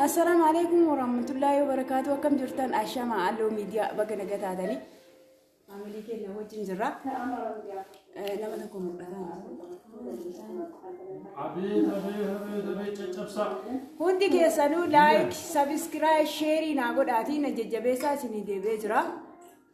Assalaamu alaikum warahmatullaahi wabarakaatu akkam jirtan ashama alloo miidiyaa baga naga taatanii maamilii keenya wajjin jirra nama tokko mul'ataa Abiit abiit abiit abiit caccabsaa. hundi keessanuu laayik sabiskiraayib sheerii naa godhaatii na jajjabeessaa isinii deebi'ee jira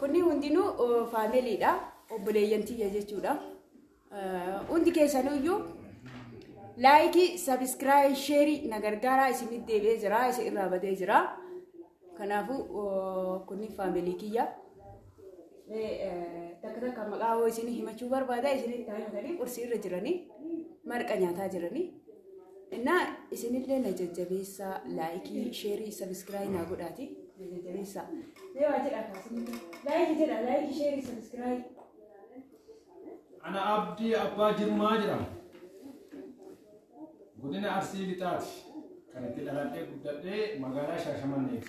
Kunni hundinuu faamiliidha. Obboleeyyan tiyya jechuudha. Hundi keessanuyyuu laayikii, sabiskiraayii, sheerii na gargaaraa isinit deebi'ee jira. Isin irraa badee jira. Kanaafuu kunni faamilii kiyya. Takka takka maqaa hoo isinii himachuu barbaada isinitti himatanii qursii irra jiranii marqa nyaataa jiranii. Innaa isinillee na jajjabeessaa laayikii sheerii sabiskiraayii naa godhaati na jajjabeessaa. Mee waa jedhaa kaasinillee laayikii jedhaa laayikii sheerii sabiskiraayii. Ana Abdii Abbaa Jirmaa jedhama. Godina Arsii Lixaati. Kan itti dhaladhee guddadhee magaalaa Shaashamanneeti.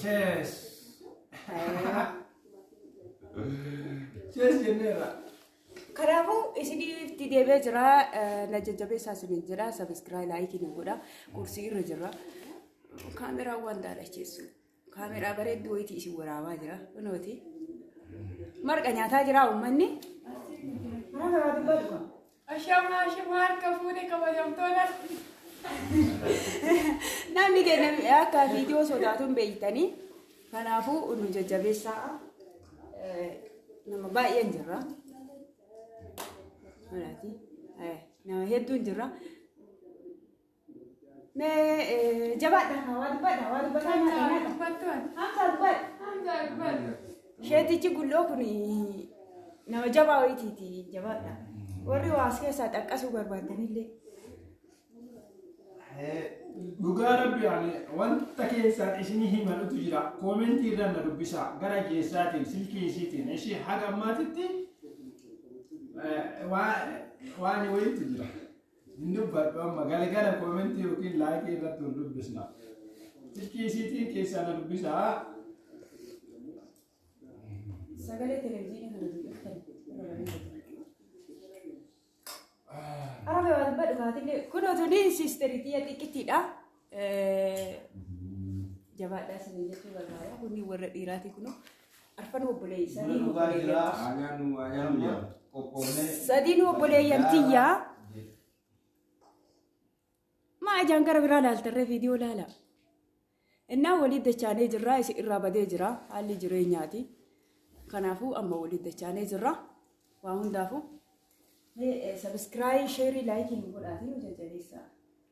Cheers. Cheers jenneerra. Kanaafuu isinitti deebi'ee jira na jajjabeessaa isiniin jira sabiskiraayii laayikii nu godha kursii irra jira kaameraa waan daalacheessu kaameraa bareedduu wayitii isin waraabaa jira kunooti marqa nyaataa jira uummanni. Mana garaa dubbatu. Ashama ashama harka fuune kabajamtoota. Namni keenya akka viidiyoo sodaatu hin beektanii. Kanaafuu nu jajjabeessaa eh, nama baay'een jirra. Manaati. Eh, Nama hedduun jirra. Sheetichi gulloo kun nama jabaa wayiitiiti jabaadha. Warri waas keessaa xaqqasuu barbaadanillee. Dhugaa rabbi ani wanta keessaan isinii himanutu jira. Koomentii irra na dubbisaa gara keessaatiin silkii isiitiin ishii haga ammaatitti waan wayiitu jira. Hin dubbadhu amma galgala koomentii yookiin laayikii irratti hin dubbisna. Tikki isiitiin keessaa na dubbisaa. Sagalee televizyiinii kana dubbiftan irra bareeda. Arabe waan badhu kaatille kun otoo ni siisteritii xiqqittiidha. Jabaadhaa isin jechuu barbaada. Kunni warra dhiiraati kunoo arfan obboleessa. Buna dhugaa jira. Aanaan nu waa nyaannu qophoofne. Sadiin obboleeyyan tiyyaa. Maa ijaan gara biraa laaltarree viidiyoo laala. Innaa waliin dachaanee jirra isin irraa badee jira haalli jireenyaati. Kanaafuu amma waliin dachaanee jirra. Waa hundaafuu. Sabiskiraayii, sheerii, laayikii nu godhaatii nu jajjabeessaa.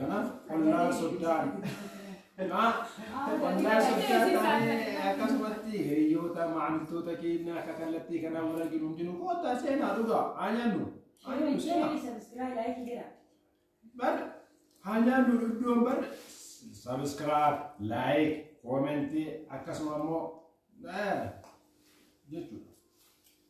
Kanaaf ollaa soddaan ollaa soddaan taanee akkasumatti hiriyoota maamiltoota keenya akka kallattii kanaa wal arginu hundinuu koottaa seenaa dhugaa haa nyaannu haa nyaannu seenaa bar haa nyaannu iddoon bar sabiskiraab laayik koomentii akkasuma immoo jechuudha.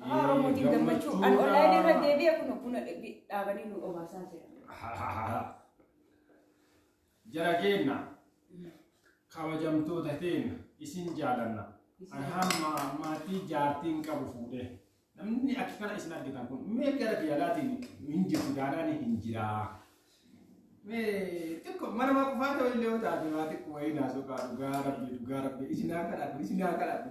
Afaan Oromootiin gammachuu. An online irra deebi'e kun kun dhaabanii nu obaasaa jira. Jara keenna kabajamtoota keenna isin jaalanna. An hamma maatii jaartiin qabu fuudhee. Namni akka kana isin argitan kun mee gara biyyalaatiin hin jirtu daanaan hin jiraa. Mee xiqqo mana maa qufaa ta'u illee yoo taate waa xiqqo wayii naasoo kaa dhugaa rabbi dhugaa rabbi isin haa kadhatu isin haa kadhatu.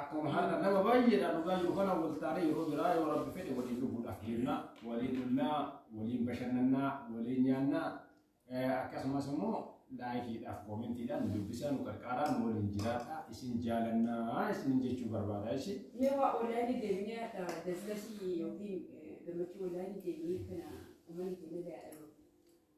akkuma har'a nama baay'eedhaan dhugaa jiru kana wal taanee yeroo biraa yoo rabbi fedhe waliin dhuguudhaaf deemna waliin dhumnaa waliin bashannannaa waliin nyaannaa akkasumas immoo laayikiidhaaf koomentiidhaan nu dubbisaa nu qarqaaraa nu waliin jiraadha isin jaalannaa isin jechuu barbaada isin. Mee waa olaanii deemnee akka daslasii yookiin gammachuu olaanii deemnee kana uummanni keenya ilaalu.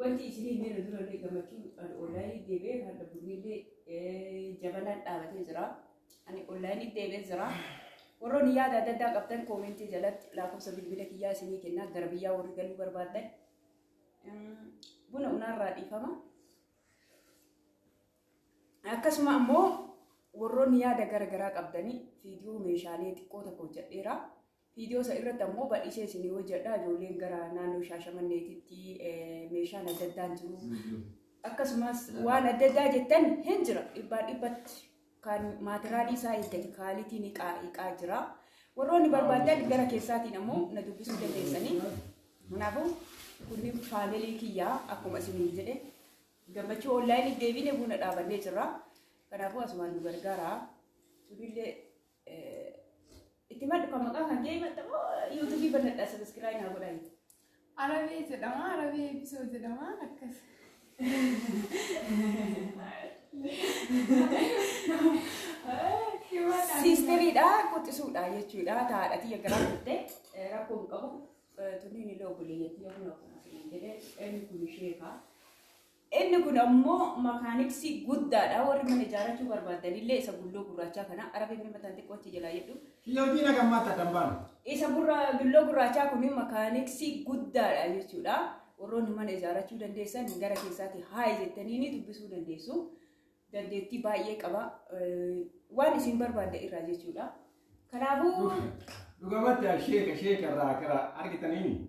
Wanti isinii miira dura illee gammachuu ani onlaayinii deebi'ee kan dhabbunni illee jabanaan dhaabatee jira. Ani onlaayinii deebi'ee jira. Warroonni yaada adda addaa qabdan koomentii jalatti lakkoofsa bilbila kiyyaa isinii kennaa gara biyyaa warri galuu barbaaddan buna unaarraa dhiifama. Akkasuma ammoo warroonni yaada gara garaa qabdanii viidiyoo meeshaalee xiqqoo tokko hojjedheera. Viidiyoo san irratti ammoo bal'isee isinii hojjedha. Ijoolleen gara naannoo Shaashamanneetitti meeshaan adda addaan jiru. Akkasumas waan adda addaa jettan hin jira. Dhibbaan dhibbatti kan maatiraalii isaa eeggate kaalitiin hiqaa hiqaa jira. Warroonni barbaadan gara keessaatiin ammoo na dubbisuu dandeessanii. Kanaafuu kunni faamilii kiyyaa akkuma isiniin jedhe gammachuu onlaayinii deebiinee buna dhaabannee jirra. Kanaafuu asumaan nu gargaara. Sunillee Itti maddu kan maqaa kan kee himatta moo yuutuubii banadhaa sabiskiraayi naa godhaa jetti. Arabee jedhama, arabee eebbisoo jedhama akkas. Siisteriidha quxisuudha jechuudha taadha tiyya garaa turte rakkoo hin qabu tunniin illee obboleeyyatti yoo kun akkuma jedhee inni kun isheekaa. Inni kun ammoo makaaniksii guddaadha. Warri mana ijaarrachuu barbaaddanillee isa gulloo gurraachaa kana arabee mee mataan xiqqoo achi jalaa jedhu. Yookiin akka maata dambaan. Isa gurra gulloo gurraachaa kun makaaniksii guddaadha jechuudha. Warroonni mana ijaarrachuu dandeessan gara keessaatti haayi jettanii ni dubbisuu dandeessu. Dandeettii baay'ee qaba. Eh, Waan isin barbaadda irraa jechuudha. Kanaafuu Dhugamatti sheeka sheeka irraa kara argitaniin.